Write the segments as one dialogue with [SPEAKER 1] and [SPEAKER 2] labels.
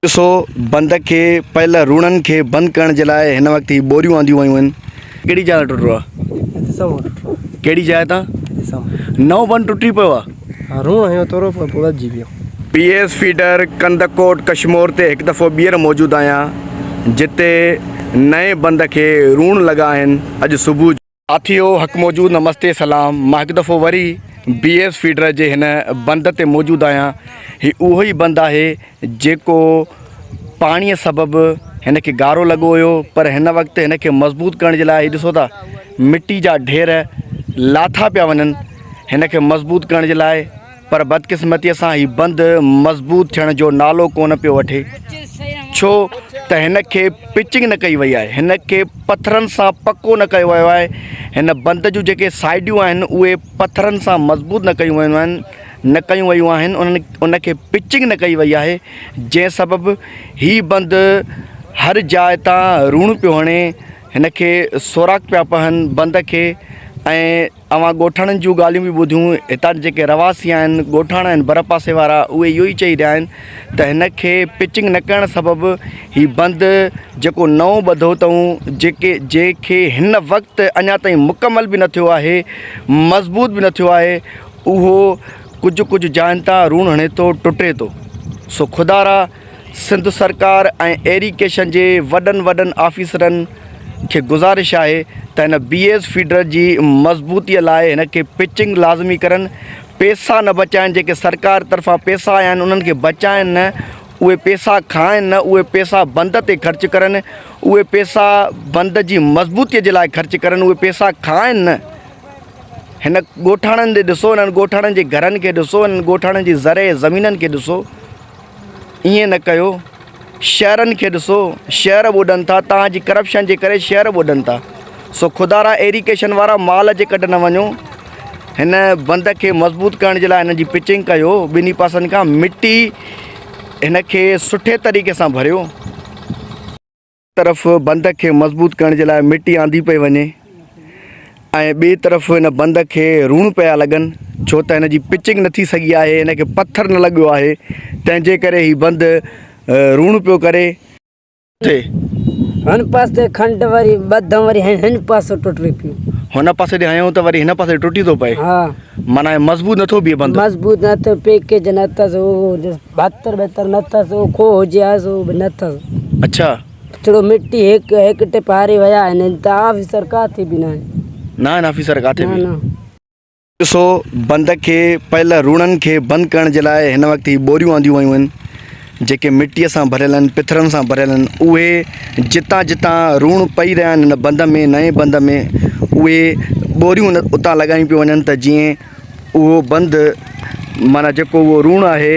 [SPEAKER 1] ڏسو بند کي پيل روڻن کي بند ڪرڻ جي لاء هن وقت هي ٻوريون آنديون ويون آهن. ڪهڙي جاء تان ٽٽو آ؟ هتي سمهو ٽٽو آ. ڪهڙي جاء تان؟ هتي سمهو. نئون بند ٽٽي پيو آ؟ ها روڻ هنيو تورو پر پوء وڌجي ويو. P S feeder Kandhkot Kashmore تي هڪ دفعو ٻيهر موجود آهيان جتي نئين بند کي روڻ لڳا آهن اڄ صبح جو. ساٿيو حق موجود نمستي سلام مان هڪ دفعو وري بي ايس فيڊر جي هن بند تي موجود آهيان هي اهو ئي بند آهي جيڪو پاڻي سبب هن کي گارو لڳو هيو پر هن وقت هن کي مضبوط ڪرڻ جي لاء هي ڏسو ٿا مٽي جا ڍير لاٿا پيا وڃن هن کي مضبوط ڪرڻ جي لاء پر بدقسمتيء سان هي بند مضبوط ٿيڻ جو نالو ڪونه پيو وٺي، ڇو ته هن کي پچنگ نه ڪئي وئي آهي، هن کي پٿرن سان پڪو نه ڪيو ويو آهي، هن بند جون جيڪي سائيڊيون آهن، اهي پٿرن سان مضبوط نه ڪيون ويون آهن، نه ڪيون ويون آهن، ان کي پچنگ نه ڪئي وئي آهي، جنهن سبب هي بند هر جاء تان روڻ پيو هڻي، هن کي سوراخ پيا پون بند کي ۽ اوهان ڳوٺاڻن جون ڳالهيون به ٻڌيون، هتان جا جيڪي رهواسي آهن، ڳوٺاڻا آهن ڀرپاسي وارا اهي اهو ئي چئي رهيا آهن ته هن کي پچنگ نه ڪرڻ سبب هي بند جيڪو نئون ٻڌو اٿئون جيڪي جنهن کي هن وقت اڃا تائين مڪمل به نه ٿيو آهي مضبوط به نه ٿيو آهي اهو ڪجهه ڪجهه جاين تان روڻ هڻي ٿو ٽٽي ٿو سو خدارا سنڌ سرڪار ۽ ايريڪيشن جي وڏن وڏن آفيسرن کي گذارش آهي ته هن بي ايس فيڊر جي مضبوطي لاء هن کي پچنگ لازمي ڪرن پيسا نه بچائن جيڪي سرڪار طرفان پيسا آيا آهن انهن کي بچائن نه اهي پيسا کائن نه اهي پيسا بند تي خرچ ڪرن اهي پيسا بند جي مضبوطي جي لاء خرچ ڪرن اهي پيسا کائن نه هن ڳوٺاڻن ڏسو هنن ڳوٺاڻن جي گهرن کي ڏسو هنن ڳوٺاڻن جي زرعي زمينن کي ڏسو ائين نه ڪيو شهرن کي ڏسو شهر ٻڏن ٿا توهان جي ڪرپشن جي ڪري شهر ٻڏن ٿا سو خدارا ايريڪيشن وارا مال جي ڪڍ نه وڃو هن بند کي مضبوط ڪرڻ جي لاء هن جي پچنگ ڪيو ٻنهي پاسن کان مٽي هن کي سٺي طريقي سان ڀريو طرف بندڪ کي مضبوط ڪرڻ جي لاء مٽي آندي پئي وڃي ۽ ٻئي طرف هن بندڪ کي روڻ پيا لڳن ڇو ته هن جي پچنگ نه ٿي سگهي آهي هن کي پٿر نه لڳيو آهي تنهن جي ڪري هي بند روڻ پيو ڪري
[SPEAKER 2] هن پاسي تي کنڊ وري ٻڌم وري هن پاسو ٽٽي پيو هن پاسي تي هنيو
[SPEAKER 1] ته وري هن پاسي ٽٽي ٿو پئي ها معنيٰ مضبوط نه ٿو بيهي بند مضبوط نه ٿو پيڪيج
[SPEAKER 2] نه اٿس بھتر بھتر نه اٿس او کوھ ھجي ھا سو به نه اٿس اڇا اچڙو
[SPEAKER 1] مٽي
[SPEAKER 2] ھيڪ ھيڪ ٽپ ھاري ويا آھن ھن ته آفيسر ڪاٿي به ناھن نه آھن آفيسر
[SPEAKER 1] ڪاٿي نه به نه ڏسو بند کي پيل روڻن کي بند ڪرڻ جي لاء هن وقت هي ٻوريون آنديون ويون آهن جيڪي مٽيء سان ڀريل آهن پٿرن سان ڀريل آهن اهي جتان جتان روڻ پئي رهيا آهن هن بند ۾ نئين بند ۾ اهي ٻوريون اتان لڳايون پيون وڃن ته جيئن اهو بند معنيٰ جيڪو اهو روڻ آهي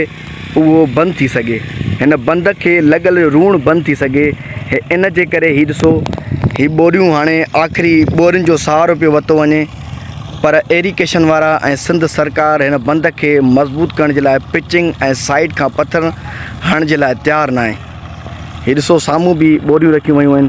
[SPEAKER 1] اهو بند ٿي سگهي هن بند کي لڳل روڻ بند ٿي سگهي ان جي ڪري هي ڏسو هي ٻوريون هاڻي آخري ٻورين جو سهارو پيو وتو وڃي پر ايريڪيشن وارا ۽ سنڌ سرڪار هن بند کي مضبوط ڪرڻ جي لاء پچنگ ۽ سائيڊ کان پٿر هڻڻ جي لاء تيار ناهي هي ڏسو سامهون به ٻوريون رکيون ويون آهن